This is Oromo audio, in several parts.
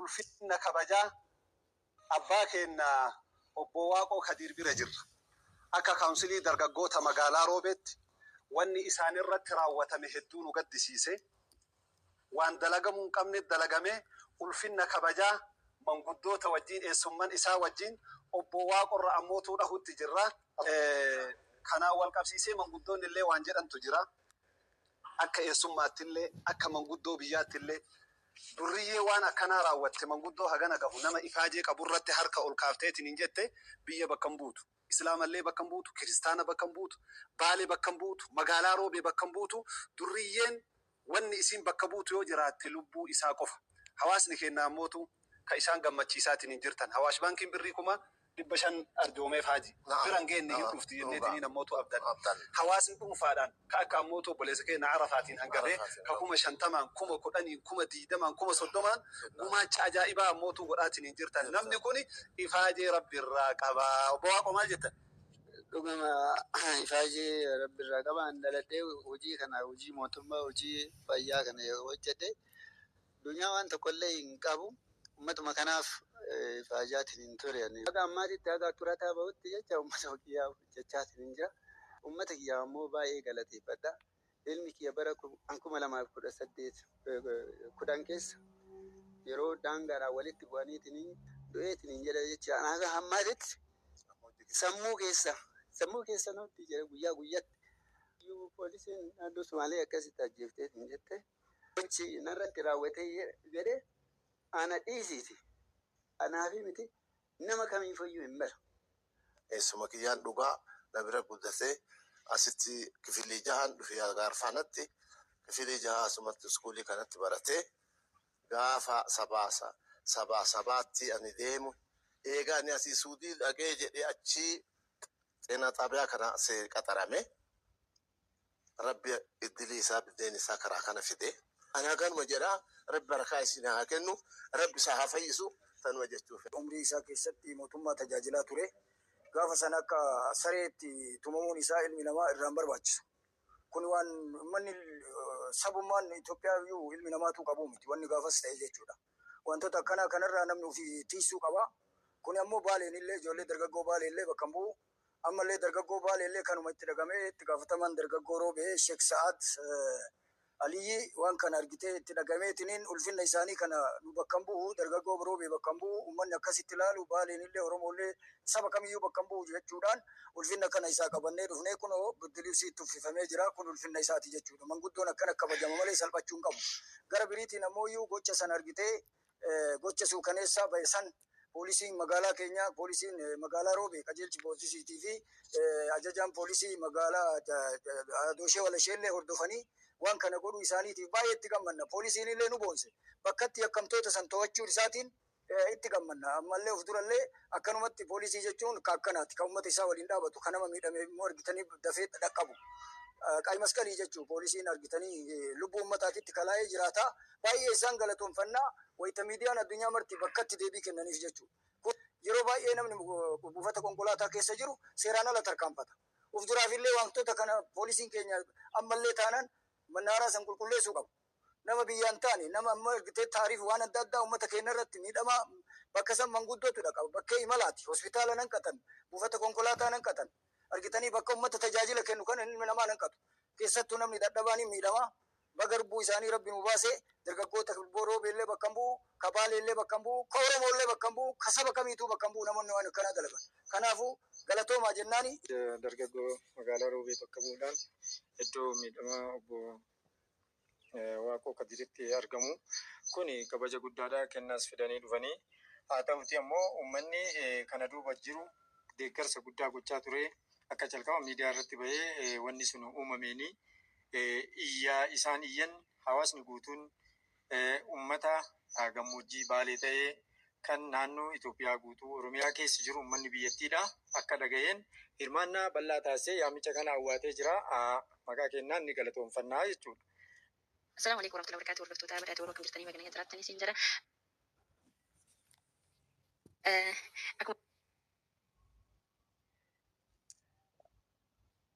ulfinna kabajaa abbaa keenna obbo Waaqoo Kadiir bira jirra. Akka Kaawunsilii Dargaggoota Magaalaa Roobeetti wanni isaanirratti raawwatame hedduu nu gaddisiise. Waan dalagamuu hin qabne dalagame, ulfinna kabajaa manguddoota wajjiin, eessumman isaa wajjiin, obboo Waaqorra ammootuu dhahutti jirra. Kanaan wal qabsiisee manguddoonni illee waan jedhantu jira. Akka eessummaatti illee, akka manguddoo biyyaatti illee durriyyee waan akkanaa raawwatte manguddoo hagana gahu nama ifaajee qabu irratti harka ol kaafteetiniin jette biyya bakka hin buutu. Islaama illee bakka hin buutu, Kiristaana bakka hin buutu, Baale bakka hin buutu, Magaalaa Roobee bakka hin buutu, Durriyyeen wanni isiin bakka buutu yoo jiraatte lubbuu isaa qofa. Hawaasni keenna ammootu ka isaan gammachiisaatiniin jirtan. Hawaash Baankiin Birrii kuma. 500 arjoomeef Haaji. Bira hin geenne hin dhufti jenneetiniin ammootu abdanne. Hawaasni dhuunfaadhaan. ka akka ammoo tu obboleessa keenna Arafaatiin hangatee ka kuma shantamaan, kuma kudhaniin, kuma diidamaan, kuma soddomaan gumaacha ajaa'ibaa ammoo tu godhaatiniin jirtan. Namni kuni ifaajee Rabbi irraa qaba. Obbo Waaqoo maal jettan? Dhugama ifaajee Rabbi irraa qaba. An dhaladhee hujii kana, hujii mootummaa, hujii fayyaa kana hojjadhe. Dunyaa waan tokkollee hin qabu. Ummatuma kanaaf ifaajaatiin hin ture ani. Haga ammaatitti haga xurataa bahutti jecha ummata kiyyaaf hojjachaatiin jira. Ummata kiyyaaf ammoo baay'ee galateeffadha. Ilmi kiyya bara 2018 10 keessa yeroo daangaadhaan walitti bu'aniitiin du'eetiin jedha jechaan haga ammaatitti sammuu keessa sammuu keessa nutti jira guyyaa guyyatti. Poolisiin naannoo Sumaalee akkasitti ajjeefteetiin jette. gochi narratti raawwate jedhe ana dhiisiiti anaafi miti nama kamiifuyyuu hin malu. Eessuma kiyyaan dhugaa na bira guddate asitti kifilii jahaan dhufe Agaarfaanatti kifilii jahaa asumatti iskuulii kanatti barate gaafa sabaasa sabaa sabaatti ani deemu eega ani asii suudii dhaqee jedhe achii xeenaa xaabiyaa kana qaxarame Rabbi iddilii isaa biddeen isaa karaa kana fide ani hakanuma jedha rabbi barakaa isiin haa kennu rabbi isaa haa fayyisu tanuma jechuu fedha. Umrii isaa keessatti mootummaa tajaajilaa ture. Gaafa sana akka sareetti tumamuun isaa ilmi namaa irraa hin barbaachisu. Kun waan ummanni sabummaan Itoophiyaa iyyuu ilmi namaatuu qabu miti wanni gaafas ta'e jechuudha. Wantoota akkanaa kanarraa namni ofii tiysuu qaba. Kuni ammoo Baaleen illee ijoollee dargaggoo Baalee illee bakka hin bu'u. Ammallee dargaggoo Baaleellee kanuma itti dhagamee itti gaafatamaan dargaggoo Roobee Sheek Sa'aad Aliyyii waan kana argitee itti dhagameetiniin ulfinna isaanii kana nu bakka hin bu'u, dargaggoo Roobee bakka hin bu'u, ummanni akkasitti laalu Baaleenillee Oromoollee saba kamiyyuu bakka hin bu'u jechuudhaan ulfinna kana isaa qabannee dhufnee kunoo Birdiluusii itti uffifamee jira kun ulfinna isaati jechuudha. Manguddoon akkana kabajama malee salphachuu hin qabu. Gara biriitiin ammooyyuu gocha san argitee. gocha suukaneessaa ba'e san poolisiin magaalaa keenyaa poolisiin magaalaa Roobee qajeelchi poolisiitii fi ajajaan poolisii magaalaa Dooshee Walasheellee hordofanii waan kana godhuu isaaniitiif baay'ee itti gammanna. Poolisiin illee nu boonse. Bakkatti yakkamtoota san to'achuu isaatiin itti gammanna. Ammallee of durallee akkanumatti poolisii jechuun ka akkanaati. Ka uummata isaa waliin dhaabatu, ka nama miidhame immoo argitanii dafee dhaqqabu. Qaayimasqalii jechuu poolisiin argitanii lubbuu uummataatitti kalaa'ee jiraataa Baay'ee isaan galatoomfanna, wayita miidiyaan addunyaa marti bakkatti deebii kennaniif jechuudha. Kun yeroo baay'ee namni buufata konkolaataa keessa jiru seeraan ala tarkaanfata. Of duraafillee waantota kana poolisiin keenya ammallee taanaan mannaaraa san qulqulleessuu qabu. Nama biyyaa hin taane, nama amma argitee taariif waan adda addaa uummata keenyarratti miidhamaa bakka san manguddootu dhaqa, bakkee imalaati, hospitaala hin hanqatan, buufata konkolaataa hin hanqatan. Argitanii bakka uummata tajaajila kennu kana ilmi namaa hin hanqatu. Keessattuu namni dadhabaan hin miidhama. Baga lubbuu isaanii rabbi nuu baase dargaggoota ka wbo roobee illee bakka hin bu'u ka baalee illee bakka hin bu'u ka oromoo illee bakka hin bu'u ka saba kamiituu bakka hin bu'u namonni waan akkanaa dalagan kanaafuu galatoomaa jennaani. Dargaggoo magaalaa roobee bakka bu'uudhaan iddoo miidhamaa obbo Waaqoo Kadiritti argamu kuni kabaja guddaadha kennaas fidanii dhufanii haa ta'uutii ammoo ummanni kana duuba jiru deeggarsa guddaa gochaa turee akka calqaba miidiyaa irratti bahee wanni sunu uumameenii iyya isaan iyyan hawaasni guutuun ummata gammoojjii Baalee ta'ee kan naannoo Itoophiyaa guutuu Oromiyaa keessa jiru ummanni biyyattiidha akka dhaga'een hirmaannaa bal'aa taasisee yaamicha kana awwaatee jira. Maqaa kennaan ni galatoomfannaa jechuudha. Assalaamu Aleeykum Warahmatullahi Wabarakaatu Hordoftoota Badhaadha Waboo Akkam jirtanii baga nagaan jiraattanii siin jira. Akkuma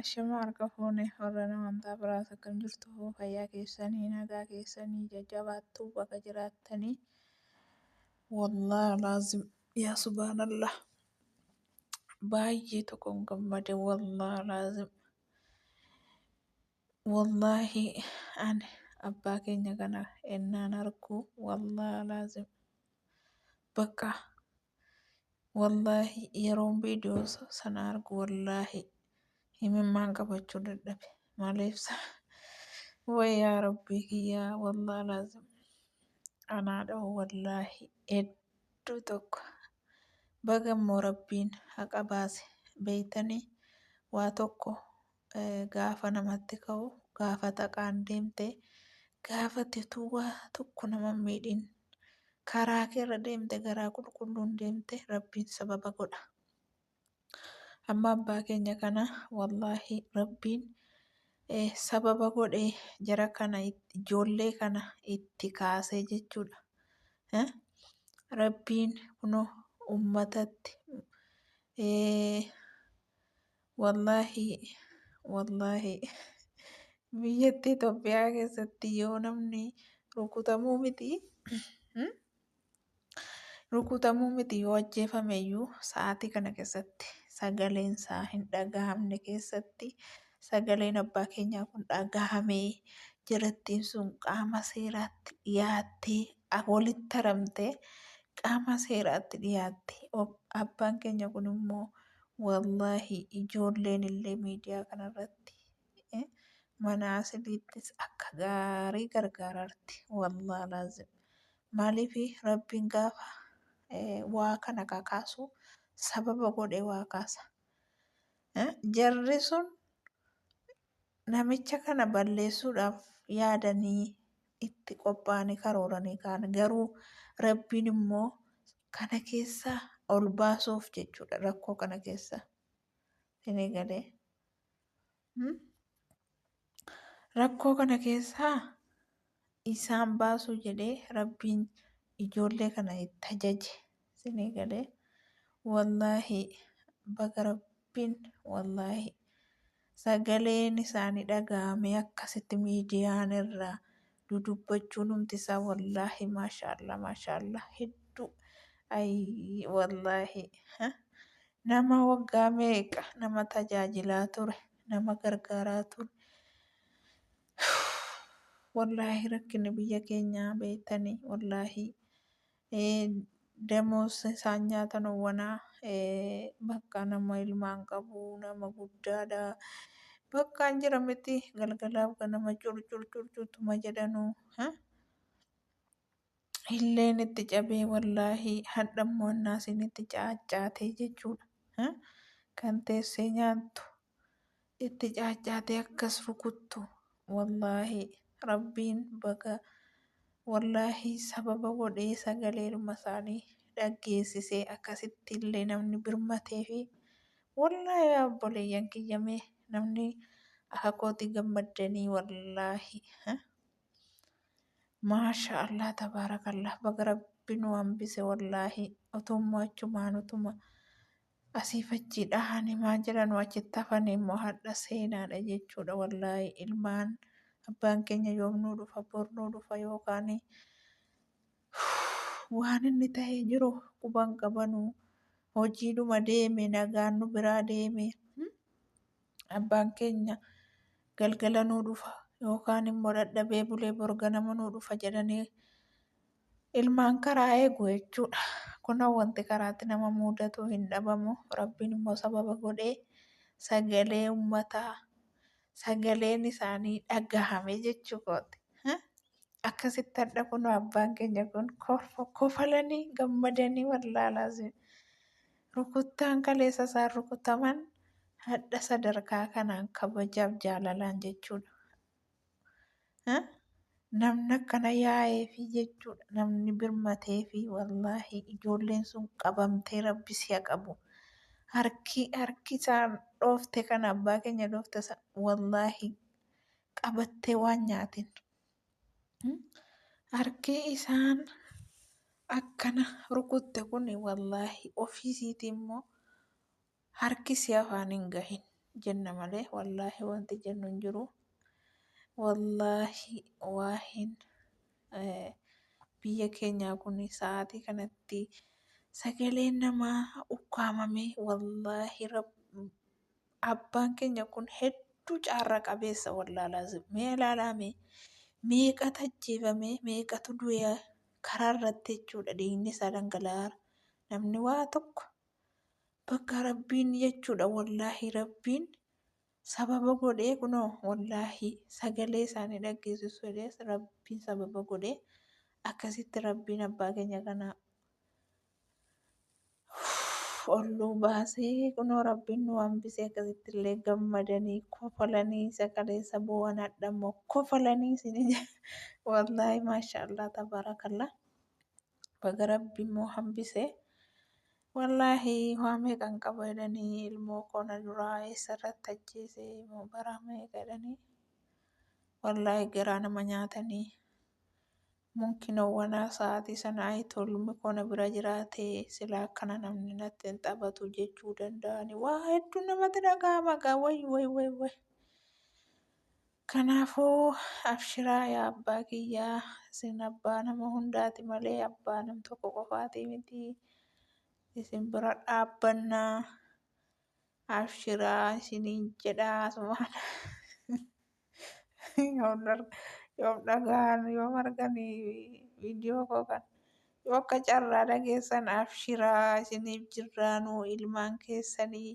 Ashamaa harka fuune hordoftoota amantaa biraas akkam jirtu hoo fayyaa keessanii nagaa keessanii jajjabaattuu baga jiraattanii wallaahi laazim yaa subhaanallah baay'ee tokkon gammade wallaahi laazim wallaahi ani abbaa keenya kana ennaan argu wallaahi laazim bakka Wallaahi yeroon viidiyoo sana argu wallaahi himimmaan qabachuu dadhabe. Maaliif sa? Wayyaa rabbii kiyyaa wallaahi laazim. Anaa dhahu wallaahi hedduu tokko. Baga immoo rabbiin haqa baase beeytanii waa tokko gaafa namatti ka'u gaafa xaqaan deemte gaafa tetuuwa tokko nama miidhin karaa keerra deemte garaa qulqulluun deemte rabbiin sababa godha amma abbaa keenya kana wallaahi rabbiin sababa godhe jara kana ijoollee kana itti kaasee jechuudha rabbiin kuno ummatatti Wallaahi wallaahi biyyatti Itoophiyaa keessatti yoo namni rukutamuu miti hmm? rukutamuu miti yoo ajjeefame iyyuu sa'aatii kana keessatti sagaleen isaa hin dhagahamne keessatti sagaleen abbaa keenyaa kun dhagahamee jirattiin sun qaama seeraatti dhiyaattee a- walitti haramtee qaama seeraatti dhiyaattee ob- abbaan keenya kun immoo Wallaahi ijoolleen illee miidiyaa kanarratti eh, mana asiliittis akka gaarii gargaararti wallaahi laazim maaliif rabbiin gaafa eh, waa kana kakaasu sababa godhee waa kaasa Eh, jarri sun namicha kana balleessuudhaaf yaadanii itti qophaa'anii karooranii kaan garuu rabbiin immoo kana keessaa ol baasuuf jechuudha rakkoo kana keessaa sinii galee Hmm? rakkoo kana keessaa isaan baasuu jedhee rabbiin ijoollee kana itti ajaje sinii galee wallaahi baga rabbiin wallaahi Sagaleen isaani dhaga'amee akkasitti miidiyaan irra dudubbachuun humti isaa wallaahi maashaallah maashaallah hedduu ayii wallaahi nama waggaa meeqa nama tajaajilaa ture nama gargaaraa ture wallaahi rakkinni biyya keenyaa beektanii wallaahi Damoos isaan nyaatan owwanaa bakka nama ilmaan qabu nama guddaadha. Bakkaan jira miti galgalaaf ganama curcur curcurtuma jedhanu. Illeen itti cabee wallaahi hadhammoo annaasiin itti caaccaatee jechuudha. Kan teessee nyaattu. itti caaccaatee akkas rukuttu wallaahi rabbiin baga wallaahi sababa godhee sagaleedhuma isaanii dhaggeessisee akkasitti illee namni birmatee fi wallaahi abboleeyyan kiyyamee namni akka kooti gammaddanii wallaahi maasha allah tabaarakallah baga rabbi nu hambise wallaahi otumma achumaan utuma asiif achii dhahani maa jiranu achitti hafani immoo hadha seenaadha jechuudha wallaahi ilmaan abbaan keenya yoom nuu dhufa bor nuu dhufa yookaan waan inni ta'ee jiru quban qabanu hojiidhuma deeme nagaan nu biraa deeme hmm? abbaan keenya galgala nuu dhufa yookaan immoo dadhabee bulee bor ganama nuu dhufa jedhanii Ilmaan karaa eegu jechuudha. Kunoo wanti karaatti nama muudatu hin dhabamu. Rabbiin immoo sababa godhee sagalee ummataa sagaleen isaanii dhagahame jechuu kooti. Akkasitti hadha kunoo abbaan keenya kun kofalanii gammadanii wallaalaa rukuttaan kaleessa isaan rukutaman hadha sadarkaa kanaan kabajaaf jaalalaan jechuudha. namni akkana yaa'ee fi jechuudha namni birmatee fi wallaahi ijoolleen sun qabamtee rabbi si'a qabu harki harki isaan dhoofte kan abbaa keenya dhoofte san wallaahi qabattee waan nyaatin harki isaan akkana rukutte kun wallaahi ofiisiiti immoo Harki si afaan hin gahin jenna malee wallaahi wanti jennu hin jiru. Wallaahi waahin biyya keenyaa kun sa'aatii kanatti sagaleen namaa ukkaamame wallaahi abbaan keenya kun hedduu caarra qabeessa wallaalaa mee ilaalaame meeqa tajjeefame meeqatu du'e karaa irratti jechuudha dhiigni isaa dhangala'aa namni waa tokko. bakka rabbiin jechuudha wallaahi rabbiin sababa godhee kunoo wallaahi sagalee isaanii dhaggeessisu ilees rabbiin sababa godhee akkasitti rabbiin abbaa keenya kana olluu baasee kunoo rabbiin nu hambisee akkasitti illee gammadanii kofalanii sagalee saboowwan hadha immoo kofalanii isin wallaahi maashaallah tabaarakallaa. baga rabbi immoo hambise wallaahi waa meeqan qaba jedhanii ilmoo koo na duraa eessarratti ajjeese moo baraa meeqa jedhanii wallaahi garaa nama nyaatanii munkinowwanaa sa'aatii sana ayitoo ilmi koo na bira jiraatee silaa akkana namni natti hin taphatu jechuu danda'anii waa hedduu namatti dhaga'ama gaa way way way way Kanaafuu abshiraa yaa abbaa kiyya isin abbaa nama hundaati malee abbaa nam tokko qofaati miti isin bira dhaabbanna abshiraa isiniin jedhaa sumaana yoom dhar- yoom dhagaan yoom arganii viidiyoo koo kan yoo akka carraa dhageessan abshiraa isiniif jirraanuu ilmaan keessanii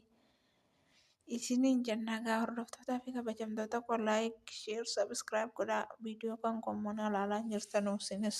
isiniin jennaa gaa hordoftootaa fi kabajamtoota koo laayik sheer sabiskiraayib godhaa viidiyoo kan koommoo na ilaalaa jirtanuuf sinis.